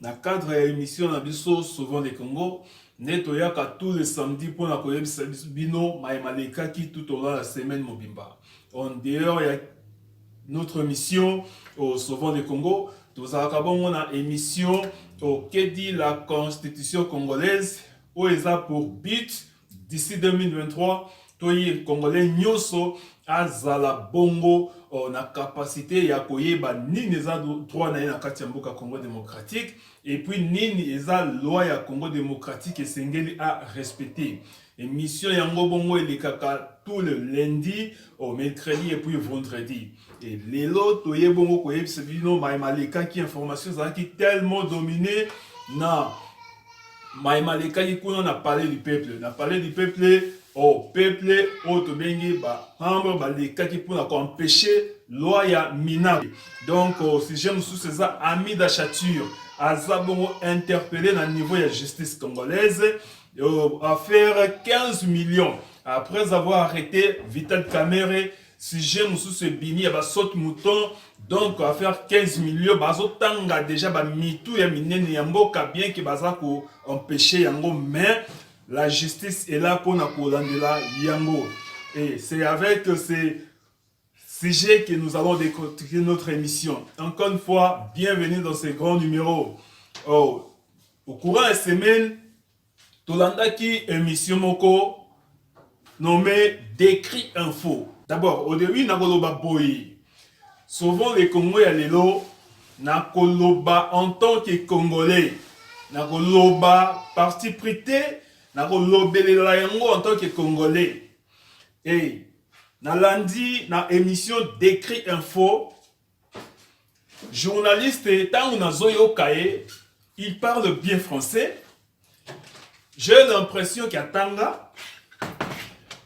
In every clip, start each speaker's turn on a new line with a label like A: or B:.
A: Na cadre ya emission na biso Sauvons le Congo nde toyaka tous les samedis mpo na koyebisa bino maye malekaki tout au long ya semaine mobimba en dehors ya notre mission au Sauvons le Congo tozalaka bongo na emission au Kedi la constitution congolaise oyo eza pour but d'ici 2023 toye congolais nyonso azala bongo oh, na capacité ya koyeba nini eza droit na ye na kati ya mboka congo démocratique epuis nini eza loi ya congo démocratique esengeli a respecter émission yango bongo elekaka tout le lundi au oh, mercredi et puis vendredi et lelo toye bongo koyebisa bino maye malekaki information ezalaki tellement domine na mai malekaki kuna na palais du peuple na palais du peuple o oh, peuple oyo oh, tobengi bahambre balekaki mpona koempeshe loi ya mina donc oh, sujet mosusu eza ami d'achature aza bongo interpellé na niveau ya justice congolaise affaire 15 millions après avoir arrêté vital camere sujet mosusu ebimi ya ba saute mouton donc affaire 15 millions bazotanga deja bamitu ya minene ya mboka bien ke baza ko empêche yango mais la justice est là mpona kolandela yango et c'est avec ces sujets que nous allons décortiquer notre émission encore une fois bienvenue dans ce grand numéro oh, au courant ya semaine Tolandaki emission moko nomme Decrit Info. D'abord, au début nakoloba boye. Sauvons le Congo ya lelo nakoloba en tant que congolais. Nakoloba parti pris te, nakolobelela yango en tant que congolais. Et nalandi na emission Decrit Info journaliste ntango nazoyoka ye il parle bien français j'ai l'impression qu'atanga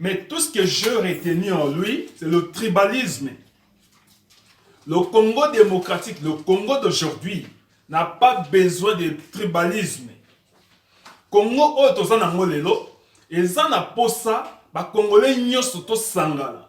A: mais tout ce que je retenu en lui c'est le tribalisme le Congo démocratique le Congo d'aujourd'hui n'a pas besoin de tribalisme Congo oyo toza nango lelo eza na posa bakongole nyonso tosangana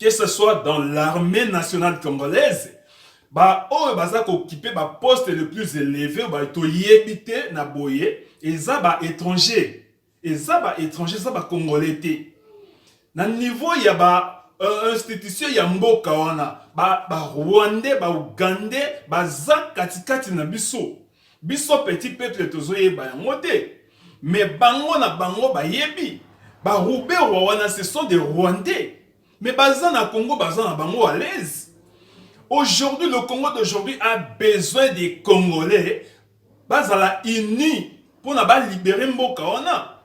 A: que ce soit dans l'armée nationale congolaise baoyo baza kokipe baposte le plus éleve oyo toyebi te na boye eza ba étranger eza ba étranger eza bacongolais te na niveau ya ba euh, institution ya mboka wana barwandais ba baougandais baza katikati na biso Biso petit peuple tozo yeba yango te. Mais bango na bango bayebi. Ba Ruberwa wana ce sont des Rwandais. Mais baza na Congo baza na bango à l'aise. Aujourd'hui le Congo d'aujourd'hui a besoin des Congolais bazala unis pona ba libérer mboka wana.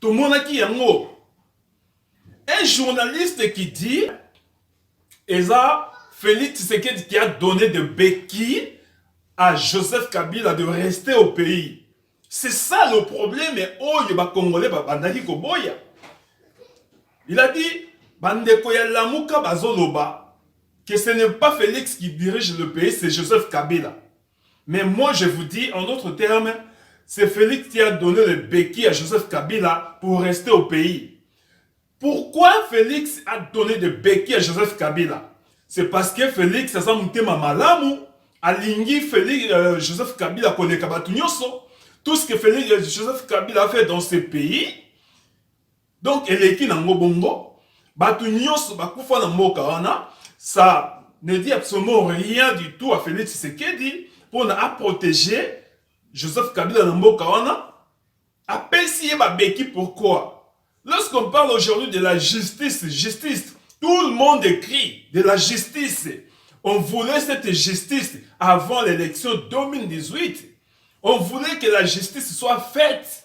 A: tomonaki yango un journaliste qui dit eza Félix Tshisekedi qui a donné de béquilles à Joseph Kabila de rester au pays. C'est ça le problème oyo ba Congolais ba bandaki koboya. Il a dit bandeko ya Lamuka bazoloba que ce n'est pas Félix qui dirige le pays, c'est Joseph Kabila. Mais moi je vous dis en d'autres termes, c'est Felix qui a donné le béquille à Joseph Kabila pour rester au pays. Pourquoi Felix a donné de béquille à Joseph Kabila C'est parce que Felix aza mutema malamu, alingi Felix, euh, Joseph Kabila koleka batu nyonso. Tout ce que Felix, euh, Joseph Kabila a fait dans ce pays, Donc eleki na ngo bongo batu nyonso bakufa na mboka wana ça ne dit absolument rien du tout à Felix Tshisekedi pona a protéger Joseph Kabila na mboka wana apesi ye babeki pourquoi lorsqu'on parle aujourd'hui de la justice justice tout le monde écrit de la justice on voulait cette justice avant l'élection 2018 on voulait que la justice soit faite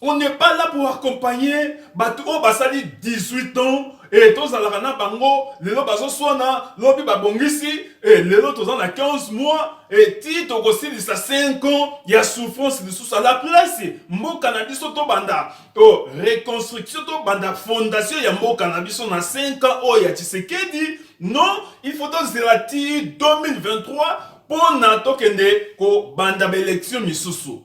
A: On n'est pas là pour accompagner bato oyo basali 18 ans et tozalaka na bango lelo bazoswana lobi babongisi et lelo toza na 15 mois et ti tokosilisa 5 ans ya souffrance lisusu à la place mboka na biso tobanda to reconstruction tobanda fondation ya mboka na biso na 5 ans oyo ya Tshisekedi non il faut tozela ti 2023 mpo na tokende kobanda baelection misusu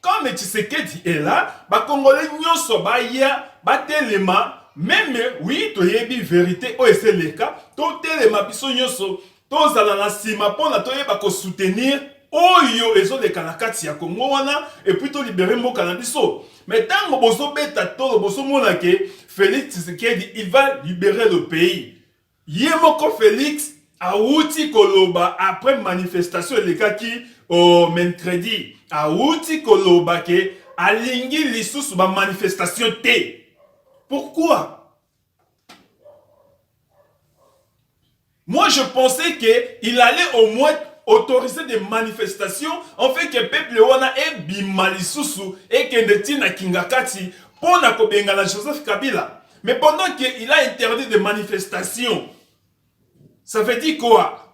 A: Comme Tshisekedi est là, ba congolais nyoso baya batelema meme oui toyebi verite oyo ese leka totelema biso nyoso tozala na nsima mpona toyeba kosoutenir oyo ezoleka na kati ya kongo wana epuis tolibere mboka na biso me ntango bozobeta tolo bozomona ke félix tshisekedi il va libere le pays Ye moko Felix awuti koloba après manifestation elekaki o mercredi, awuti koloba ke alingi lisusu ba manifestation te. Pourquoi? Moi je pensais que il allait au moins autoriser des manifestations en fait que peuple wana ebima lisusu ekende ti na Kingakati mpo na kobengana Joseph Kabila. Mais pendant qu'il a interdit des manifestations, ça veut dire quoi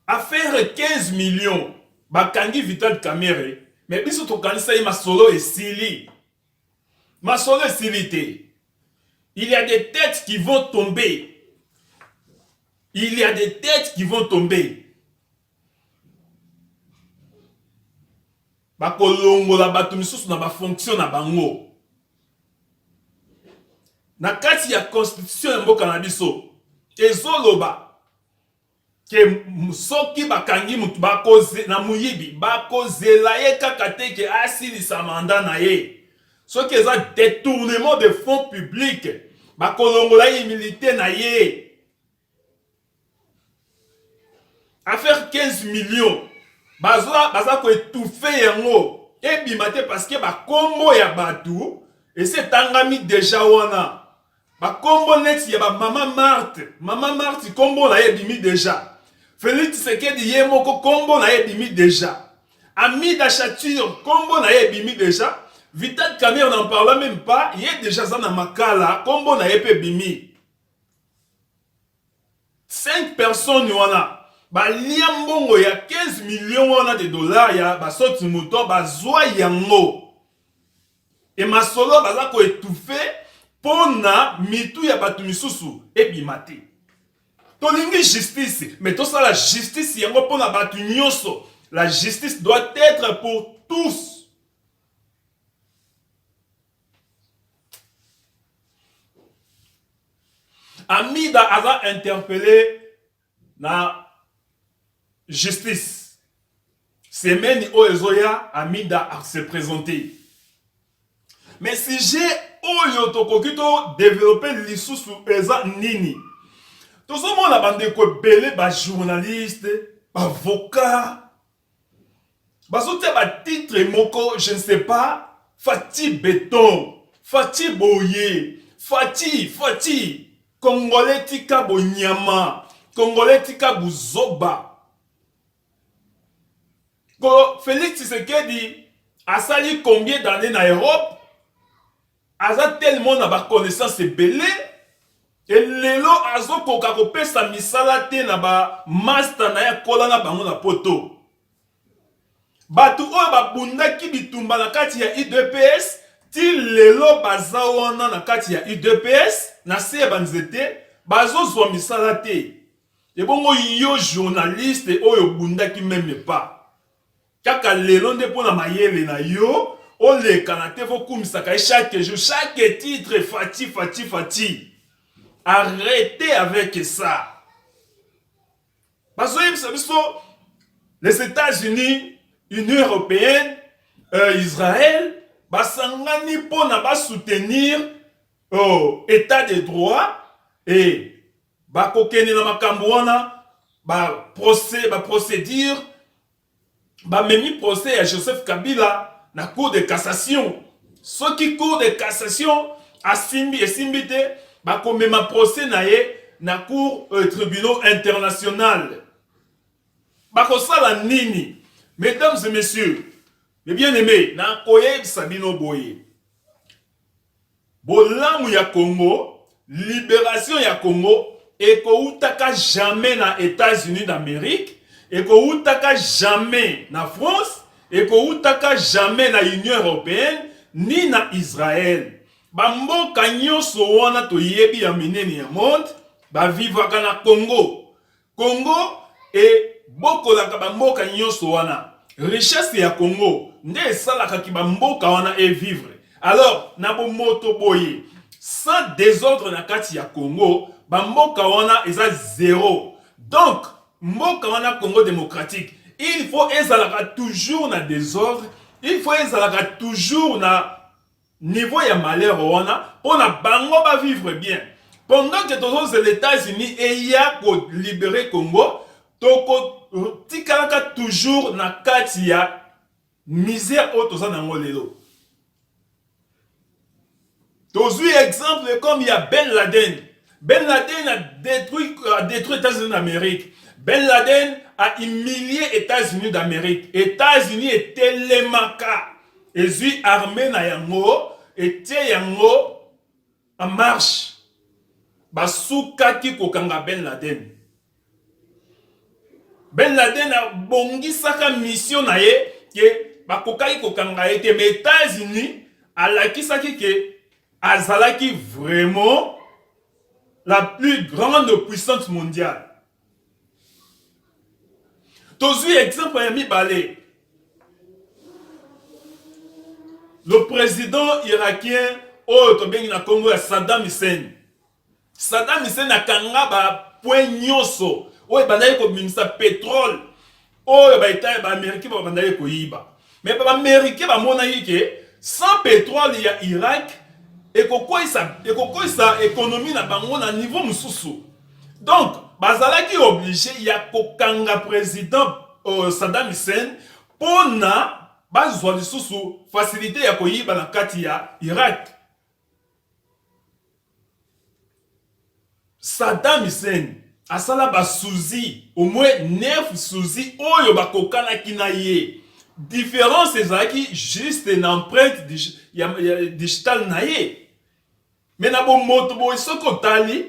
A: affaire 15 millions bakangi vital kamere me biso tokanisa ye masolo esili masolo esili te il y a des têtes qui vont tomber il y a des têtes qui vont tomber bakolongola bato misusu na bafonction na bango na kati ya constitution ya mboka na biso ezoloba ke soki bakangi motu na moyibi bakozela ye kaka te ke asilisa manda na ye soki eza detournement de fonds public bakolongola ye immunité na ye affaire 15 millions baza, baza koetufe yango ebima te parceke bakombo ya bato esi etangami deja wana bakombo neti ya bamama marte mama marte kombo na ye ebimi deja felix tshisekedi ye moko kombo na ye ebimi deja amida chature kombo na ye ebimi deja vital camere n'en parla même pas ye deja aza na makala kombo na ye mpe ebimi Cinq personnes wana balia mbongo ya 15 millions wana de dollars ya basoti moto bazwa yango e masolo baza ko étouffer mpo na mitu ya bato misusu ebima te. Tolingi justice, mais tosala justice yango mpo na bato nyonso. La justice doit être pour tous. Amida aza interpellé na justice. Semaine oyo ezoya Amida a se présenter. Mais sujet oyo tokoki to développer lisusu eza nini? Tozomona bandeko ebele ba journaliste, bavoka, bazotia batitre moko je ne sais pas fati beton fati boye fati fati congolais tika bonyama congolais tika buzoba ko felix tshisekedi asali combien d'année na europe Aza tellement na ba connaissances ebele et lelo azo koka ko pesa misala te na ba masta naye akola na bango na poto. Batu oyo ba bundaki bitumba na kati ya udps ti lelo baza wana na kati ya udps na se ya ba nzete bazo zua misala te. Ebongo yo journaliste oyo obundaki meme pas. Kaka lelo nde mpo na mayele na yo olekana te vokumisaka ye chaque jour chaque titre fati fati fati arrete avec ça bazoyebisa biso les états-unis union européenne euh, israël basangani mpo na basoutenir oh, état de droit e bakokende na makambo wana baprocédure ba ba memi procès ya Joseph Kabila na cour de cassation soki cour de cassation asimbi esimbi te bako mema procès na ye na cour euh, tribunal international bako sala nini mesdames et messieurs les bien aimés na koyebisa bino boye Bolamu ya Congo, liberation ya Congo ekowutaka jamais na Etats-Unis d'Amerique, ekowutaka jamais na France, ekowutaka jamais na Union Europeenne ni na Israël. Ba mboka nyoso wana toyebi ya minene ya monde ba vivaka na Congo. Congo ebokolaka bamboka nyonso wana richesse ya Congo nde esalaka ki bamboka wana e vivre alors na bomoto boye sans desordre na kati ya Congo bamboka wana eza zero donc mboka wana Congo démocratique il faut ezalaka toujours na desordre il faut ezalaka toujours na niveau ya malheur wana pona bango ba vivre bien pendant que tozozela Etats-Unis eya ko libere Congo toko tikalaka toujours na kati ya misère oyo toza nango lelo tozwi exemple comme ya Ben Laden Ben Laden a détruit, a détruit États-Unis d'Amérique. Ben Laden a humilié États-Unis d'Amérique. États-Unis etelemaka ezwi armée na yango etie yango en marche basukaki kokanga Ben Laden. Ben Laden abongisaka mission na ye ke bakokaki kokanga ye te, mais Etats-Unis alakisaki ke azalaki vraiment la plus grande puissance mondiale. Tozwi exemple ya mibale. Le président irakien oyo tobengi na Congo ya Saddam Hussein Saddam Hussein akanga ba points nyoso oyo ebandaki kobimisa petrole oyo ba etat ba americain babandaki koyiba mais ba americain bamonaki ke sans petrole ya Irak ekokweyisa ekokweyisa economie na bango na niveau mosusu donc bazalaki oblige ya kokanga president uh, Saddam Hussein mpo na bazwa lisusu facilite ya koyiba na kati ya Irak Saddam Hussein asala ba soucis au moins 9 soucis oyo bakokanaki na ye difference ezalaki juste na empreinte digitale na ye mais na bomoto boye soki otali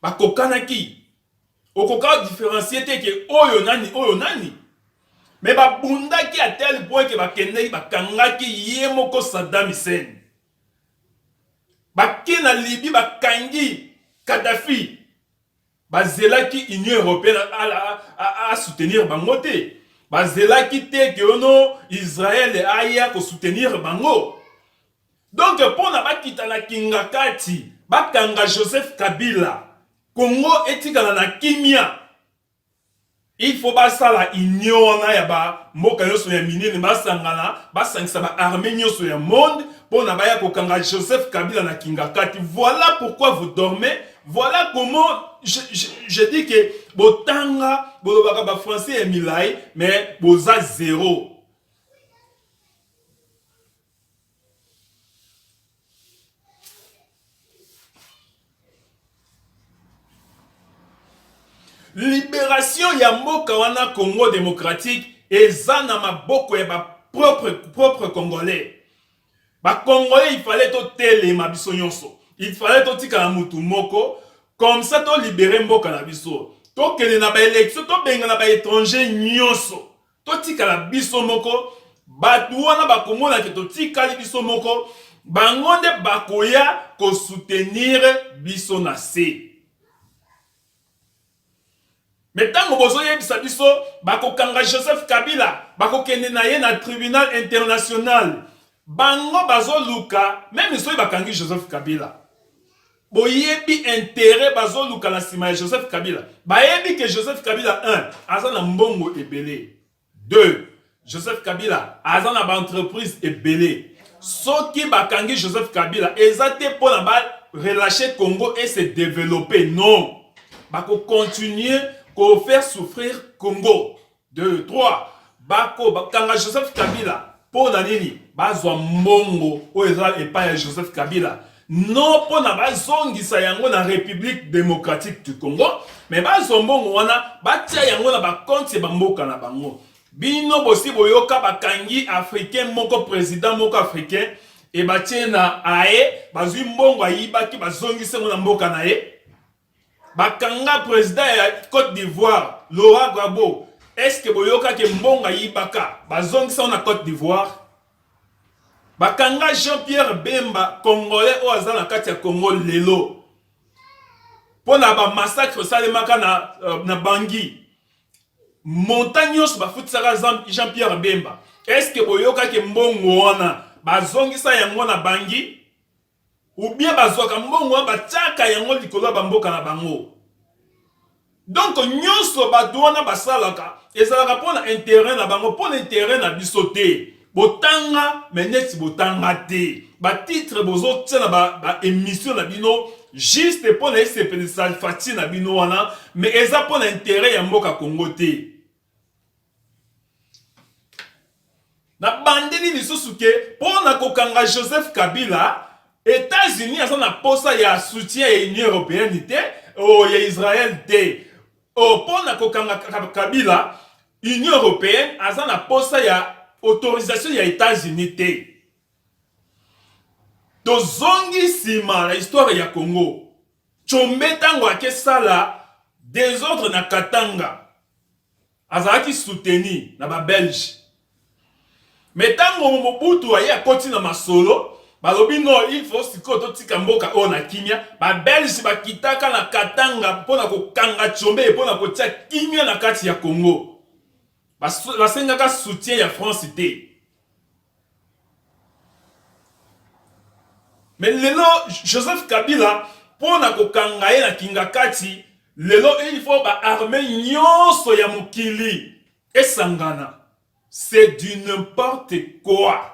A: bakokanaki okoka differencie te ke oyo nani oyo nani mais babundaki à tel point ke bakendeki bakangaki ye moko Saddam Hussein bake na Libye bakangi Kadhafi bazelaki Union européenne a soutenir bango te bazelaki te ke ono Israël aya ko soutenir bango donc pona bakita na kingakati bakanga Joseph Kabila Congo etikala na kimia Il faut basala union wana ya ba mboka nyonso ya minene basangana basangisa ba armée nyonso ya monde pona baya kokanga Joseph Kabila na Kingakati. Voilà pourquoi vous dormez. Voilà comment je, je, je dis que botanga bolobaka ba français ya milai mais boza zero. liberation ya mboka wana congo démocratique eza na maboko ya bapropre propre congolais bacongolais ifale totelema biso nyonso ifale totikala motu moko comme ça tolibere mboka na biso tokende na baélection tobengana baétranger nyonso totikala biso moko bato wana bakomona ke totikali biso moko bango nde bakoya kosoutenir biso na se me ntango bozoyebisa biso bakokanga joseph kabila bakokende na ye na tribunal international bango bazoluka meme soki bakangi joseph kabila Boyebi interet bazoluka na sima ya Joseph Kabila. Bayebi que Joseph Kabila un aza na mbongo ebele. Deux, Joseph Kabila aza na ba entreprise ebele. Soki bakangi Joseph Kabila eza te mpo na ba relâcher Congo et se développer. Non. Bako continuer ko faire souffrir Congo. 2 3 bako bakanga Joseph Kabila mpo na nini bazwa mbongo oyo eza epai ya Joseph Kabila no mpo na bazongisa yango na République démocratique du Congo me bazwa mbongo wana batia yango na bakonti ya bamboka na bango bino bosi boyoka bakangi africain moko président moko africain ebatie na aye bazwi mbongo ayibaki bazongisi yango na mboka na ye Bakanga president ya Cote d'Ivoire Laurent Gbagbo est ce que boyoka ke mbongo ayibaka bazongisa yango na Cote d'Ivoire? Bakanga Jean Pierre Bemba congolais oyo aza na kati ya Congo lelo mpo na ba massacre esalemaka na, euh, na Bangui montant nyonso bafutisaka Jean Pierre Bemba est ce que boyoka ke mbongo wana bazongisa yango na Bangui? ou bien bazwaka mbongo wana batiaka yango likolo ya bamboka na bango donc nyonso bato wana basalaka ezalaka mpo na interet na bango mpo na interet na biso te botanga me neti botanga te batitre bozotia na baémission ba na bino juste mpo na esepelisa fati na bino wana me eza mpo na interet ya mboka congo te nabandeli lisusu ke mpo na kokanga joseph kabila etats-unis aza na mposa ya soutien ya union européenne te o oh, ya israel te o oh, mpo na kokanga kabila union européenne aza na mposa ya autorisation ya etats-unis te tozongi nsima na histoire ya congo combe ntango akesala desordre na katanga azalaki soutenu na ba belge mais tango mobutu aye akoti na masolo balobi no il faut sikoyo totika mboka oyo na kimia ba belge bakitaka na katanga mpo na kokanga tshombe mpo na kotia kimia na kati ya congo basengaka soutien ya france te Mais lelo Joseph Kabila pona kokanga ye na kingakati lelo il faut ba armée nyonso ya mokili esangana c'est du n'importe quoi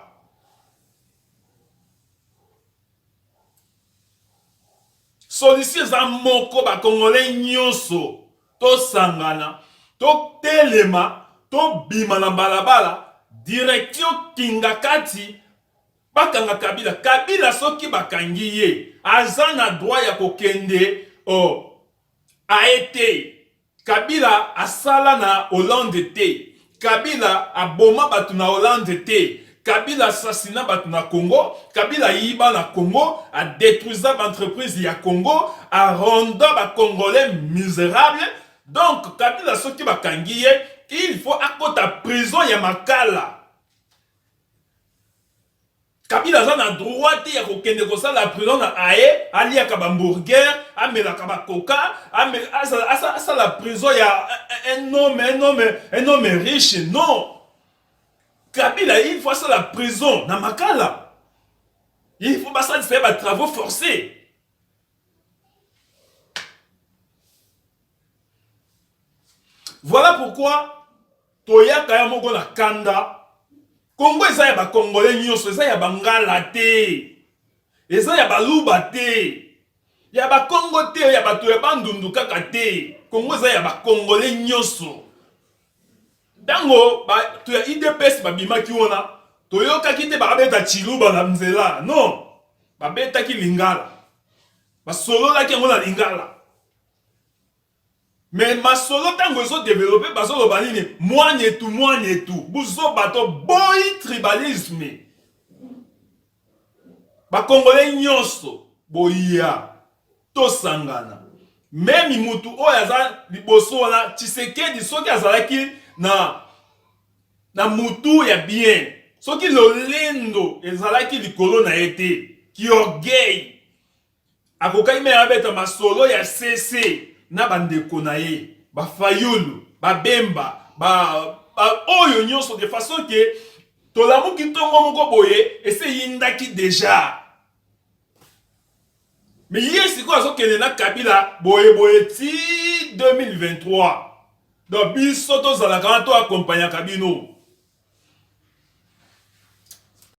A: Solution eza moko ba congolais nyonso tosangana totelema tobima na balabala direction kingakati bakanga kabila kabila soki bakangi ye aza na droit ya kokende oh, aye te Kabila asala na Hollande te, Kabila aboma batu na Hollande te, Kabila assassina batu na Congo, Kabila ayiba na Congo, a detruisa ba entreprises ya Congo, a renda ba Congolais miserables. Donc Kabila soki bakangi ye, il faut akota prison ya Makala. kabila aza na droit te ya kokende kosala prison na aye aliaka bamburger amelaka bakoka asala prison ya un homme un homme un homme riche non kabila il faut asala prison na makala il faut basalisa ye batravaux forcés voilà pourquoi toyaka ya moko na kanda Congo eza ya ba congolais nyonso, eza ya bangala te, eza ya baluba te, ya bakongo te, ya bato ya bandundu kaka te. Congo eza ya ba congolais nyonso. Ntango bato ya idps babimaki wana, toyokaki te babeta chiluba na nzela, non, babetaki lingala, basololaki yango na lingala. Mais masolo tango ezo developpe bazo loba nini mwanetu mwanetu buzoba to boyi tribalisme ba congolais nyonso boya tosangana meme mutu oyo aza liboso wana Tshisekedi soki azalaki na na mutu ya bien soki lolendo ezalaki likolo na ye te kiorgueil Akokaki meme abeta masolo ya CC na bandeko na ye ba Fayulu, ba Bemba, ba, ba oyo nyonso de façon que tolamuki ntongo moko boye esi eyindaki deja me ye sikoyo azokende na kabila boye boye ti 2023 donc biso tozalaka wana to akompanyaka bino